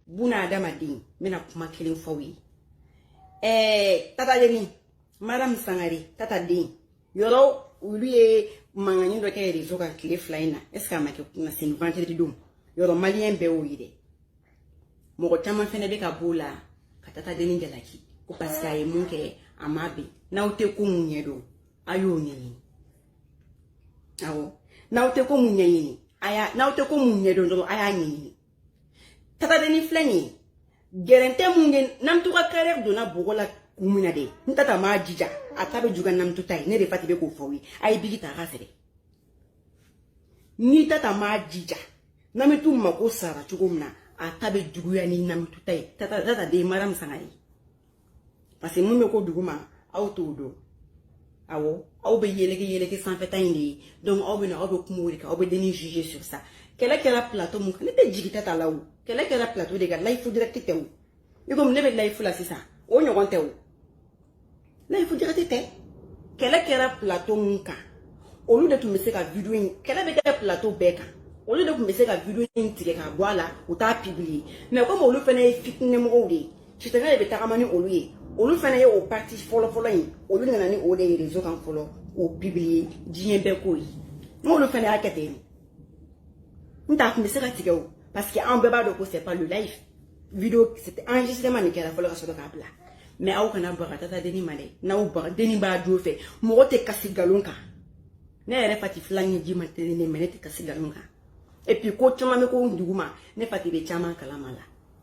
buna adamaden n bɛna kuma kelen f'aw ye ɛɛ tatadenni maramu sangare tataden yɔrɔ olu ye mankanni dɔ kɛ rezo kan tile fila in na est ce que a ma kɛ kunasini vendredi don yɔrɔ maliyɛn bɛɛ y'o ye dɛ mɔgɔ caman fɛnɛ bɛ ka b'o la ka tatadenni jalaki ko parce que a ye mun kɛ a ma bɛn n'aw tɛ ko mun ɲɛdɔn a y'o ɲɛɲini awɔ n'aw tɛ ko mun ɲɛɲini a y'a n'aw tɛ ko mun ɲɛdɔn dɔrɔn a y'a ɲɛɲini tatadenni filɛ nin ye gɛrɛntɛ mun bɛ namitu ka kariɛri donna bɔgɔ la kun min na de ni tata m'a jija a ta bɛ juguya ni namitu ta ye ne de fati bɛ k'o f'aw ye a ye biki ta a k'a sɛbɛn ni tata m'a jija namitu mako sara cogo min na a ta bɛ juguya ni namitu ta ye tata tataden maramu sangare parce que mun bɛ ko duguma aw t'o dɔn awɔ aw bɛ yeleke yeleke sanfɛta in de ye donc aw bɛ na aw bɛ kuma o de kan aw bɛ denni juger sur ça kɛlɛ kɛra plateau mun kan ne tɛ jigita ta la o kɛlɛ kɛra plateau de kan layifu direct tɛ o i komi ne bɛ layifu la sisan o ɲɔgɔn tɛ o layifu direct tɛ kɛlɛ kɛra plateau mun kan olu de tun bɛ se ka video in kɛlɛ bɛ kɛ plateau bɛɛ kan olu de tun bɛ se ka video in tigɛ ka bɔ a la u t'a publier mais komi olu fana ye fitinɛmɔgɔw de ye sitanɛ de bɛ tagama ni olu ye olu fana ye o parti fɔlɔfɔlɔ in olu nana ni o de ye rezo kan fɔlɔ k'o pibiliye diɲɛ bɛɛ k'o ye n'olu fana y'a kɛ ten nt'a tun bɛ se ka tigɛ o parce que an bɛɛ b'a dɔn ko c'est pas le live video c'était enregistrement nin kɛra fɔlɔ ka sɔrɔ k'a bila mais aw kana baga tatadenni ma dɛ n'aw baga denni b'a don fɛ mɔgɔ tɛ kasi nkalon kan ne yɛrɛ fati filɛ ɲɛji man teli ne ma ne tɛ kasi nkalon kan et puis ko caman bɛ ko duguma ne fati bɛ caman kalama la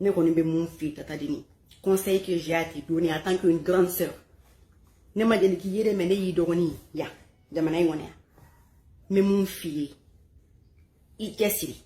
ne kɔni bɛ mun f'i ye tatadenni conseil que j'ai à te donner en tant qu'une grande sœur ne ma deli k'i ye dɛ mais ne y'i dɔgɔnin ya jamana in kɔnɔ yan n bɛ mun f'i ye i cɛsiri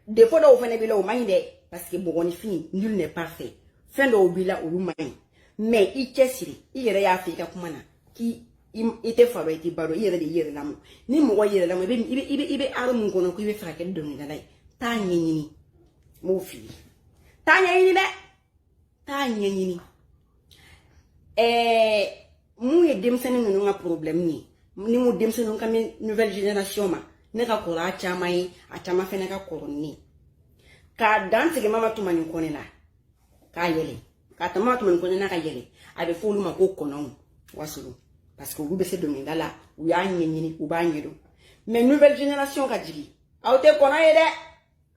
défaut dɔw fana b'i la o man ɲi dɛ parce que mɔgɔninfin nul n'est parfait fɛn dɔw b'i la olu man ɲi mais i cɛsiri i yɛrɛ y'a fɔ i ka kuma na k'i i tɛ fa dɔn i tɛ ba dɔn i yɛrɛ de y'i yɛrɛ lamɔ ni mɔgɔ y'i yɛrɛ lamɔ i bɛ i bɛ i bɛ i bɛ art mun kɔnɔ ko i b'a fɛ ka kɛ dɔnkilidala ye taa ɲɛɲini n b'o f'i ye taa ɲɛɲini dɛ taa ɲɛɲini ɛɛ mun ye denmisɛnnin ninnu ka porobilɛmu ye ni n ko denmisɛnninw n kan bɛ nouvelle génération ma ne ka kɔrɔ a caman ye a caman fɛnɛ ka kɔrɔ ni ne ye k'a dan tigɛ mama tumani kɔnɛ la k'a yɛlɛ k'a ta ma tumani kɔnɛ na ka yɛlɛ a bɛ fɔ olu ma ko kɔnɔw wasolon parce que olu bɛ se dɔnkilida la u y'a ɲɛɲini u b'a ɲɛdɔn mais nouvelle génération ka jigin aw tɛ kɔnɔ ye dɛ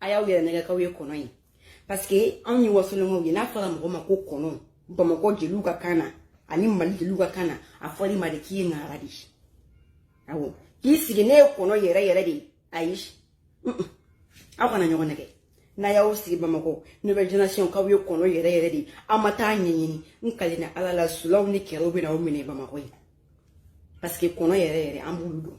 a y'aw yɛrɛ nɛgɛn k'aw ye kɔnɔ ye parce que anw ye wasolonkaw ye n'a fɔra mɔgɔ ma ko kɔnɔ bamakɔ jeliw ka kan na ani mali jeliw ka kan na a fɔr'i ma de k'i ye ŋara de ye awɔ k'i sigi ne ye kɔnɔ yɛrɛ yɛrɛ de ye ayi aw kana ɲɔgɔn nɛgɛn n'aw y'aw sigi bamakɔ nouvelle génération k'aw ye kɔnɔ yɛrɛ yɛrɛ de aw ma taa ɲɛɲini n kalenna ala la sulaw ni kɛrɛw bɛna aw minɛ bamakɔ ye parce que kɔnɔ yɛrɛ yɛrɛ an b'olu dɔn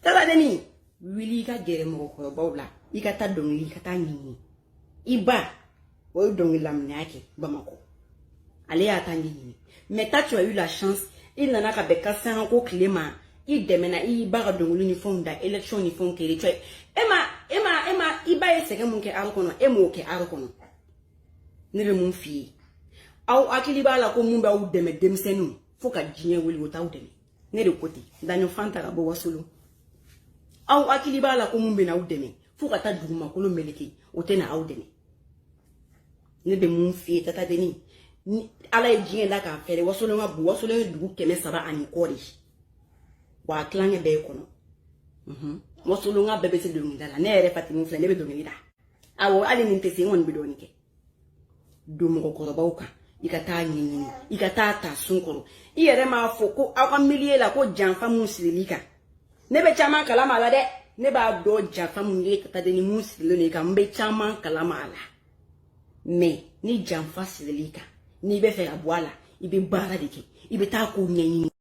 tatadenni wuli i ka gɛrɛ mɔgɔkɔrɔbaw la i ka taa dɔnkili i ka taa ɲɛɲini i ba o ye dɔnkilila minɛ y'a kɛ bamakɔ ale y'a ta ɲɛɲini mais ta tu as eu la chance i nana ka bɛn kasanga ko tile ma i dɛmɛna i y'i ba ka dɔnkili ni fɛnw da élection ni fɛnw kɛlɛ cɛ e ma e ma e ma i ba ye sɛgɛn mun kɛ art kɔnɔ e m'o kɛ art kɔnɔ ne bɛ mun f'i ye aw hakili b'a la ko mun b'aw dɛmɛ denmisɛnninw fo ka diɲɛ wuli o t'aw dɛmɛ ne de ko ten daɲɔfan ta ka bɔ wasolon aw hakili b'a la ko mun bɛ n'aw dɛmɛ fo ka taa dugumakolo meleke o tɛna aw dɛmɛ ne bɛ mun f'i ye tatadenni ni ala ye diɲɛ da k'a fɛɛrɛ wasolon ka bon wasolon ye dugu kɛmɛ saba ani kɔ de wa a tilancɛ bɛɛ ye kɔnɔ wasolonka bɛɛ bɛ se dɔnkilida la ne yɛrɛ fatimu filɛ ne bɛ dɔnkili da awɔ hali ni n tɛ se n kɔni bɛ dɔɔnin kɛ don mɔgɔkɔrɔbaw kan i ka taa ɲɛɲini i ka taa ta sun kɔrɔ i yɛrɛ m'a fɔ ko aw ka milieu la ko janfa mun siril'i kan ne bɛ caman kalama a la dɛ ne b'a dɔn janfa mun ye tatadenni mun sirilen don i kan n bɛ caman kalama a la mais ni janfa siril'i kan n'i bɛ fɛ ka bɔ a la i bɛ baara de kɛ i bɛ taa k'o ɲɛɲini